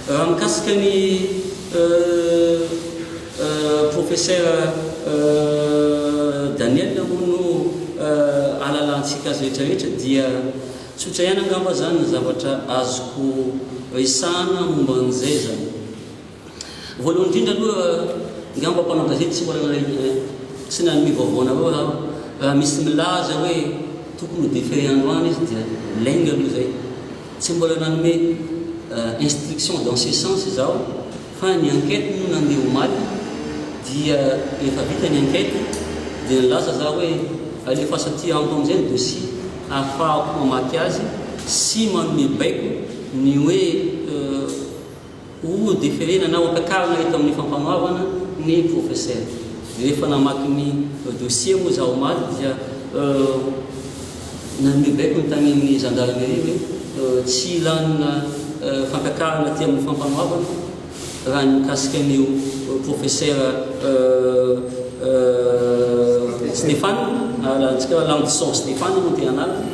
Raha mikasika ny Profesera Daniel hono no ahalalantsika azy rehetra rehetra dia tsotra ihany angamba zany ny zavatra azoko resahana momba an'izay zany. Voalohany indrindra aloha, angamba mpanao gazety tsy mbola nanaiky sy nanome vaovao anareo aho. Raha misy milaza hoe tokony ho differé androany izy dia lainga aloha izay. Tsy mbola nanome instruction dans ce sens izaho fa ny enquête moa nandeha omaly dia efa vita ny enquête dia nilaza izaho hoe alefaso aty amiko amin'izay ny dossier ahafahako mamaky azy sy manome baiko ny hoe Ho deferena na hotakarina eto amin'ny Fampanoavana ny Profesera. Rehefa namaky ny dossier moa izaho omaly dia nanome baiko ny tany amin'ny Gendarmerie hoe tsy lanina fantakarana aty amin'ny Fampanoavana raha ny mikasika an'io Profesera Stefana, alantsika hoe Landison Stefana moa dia anarany.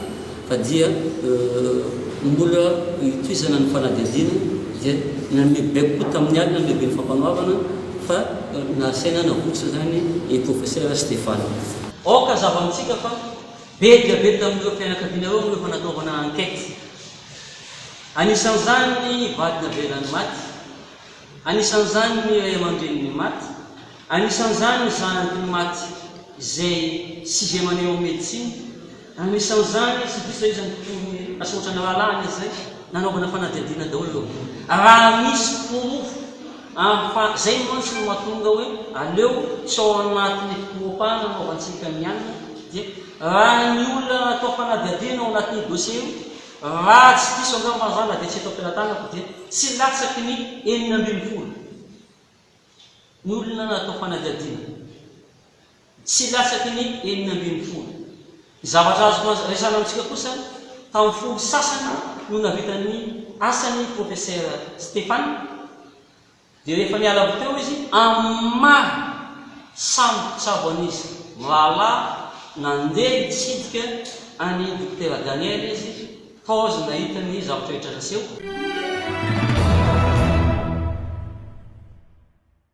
Fa dia mbola hitohizana ny fanadihadiana dia nanome baiko koa tamin'ny alina ny lehiben'ny Fampanoavana fa nahasaina nahosotra izany i Profesera Stefano. Aoka hazava amintsika fa be dia be tamin'ireo fianakavianareo no efa nataovana enquête. Anisan'izany ny vady navelan'ny maty, anisan'izany ny ray aman-drenin'ny maty, anisan'izany ny zanaky ny maty izay sixième année ao medecine, Anisan'izany tsy diso izany mpitory asa ohatran'ny rahalahiny izay nanaovana fanadihadiana daholo aloha raha misy porofo ary fa izay mantsy no mahatonga hoe aleo tsy ao anatin'ny fokoropahana anaovantsika ny anona dia raha ny olona atao fanadihadiana ao anatin'io dossier io raha tsy diso angamba za na dia tsy eto am-pelatanako dia tsy latsaky ny enina ambin'ny folo ny olona atao fanadihadiana. Tsy latsaky ny enina ambin'ny folo. Ny zavatra azoko resahana amintsika kosa, tamin'ny folo sasany no navitan'ny asany Profesera Stefan, dia rehefa niala avy teo izy, amin'ny maha samy mpitsabo an'izy mirahalahy, nandeha hitsidika an'i Dokotera Daniel izy, tojo nahita ny zavatra rehetra naseho.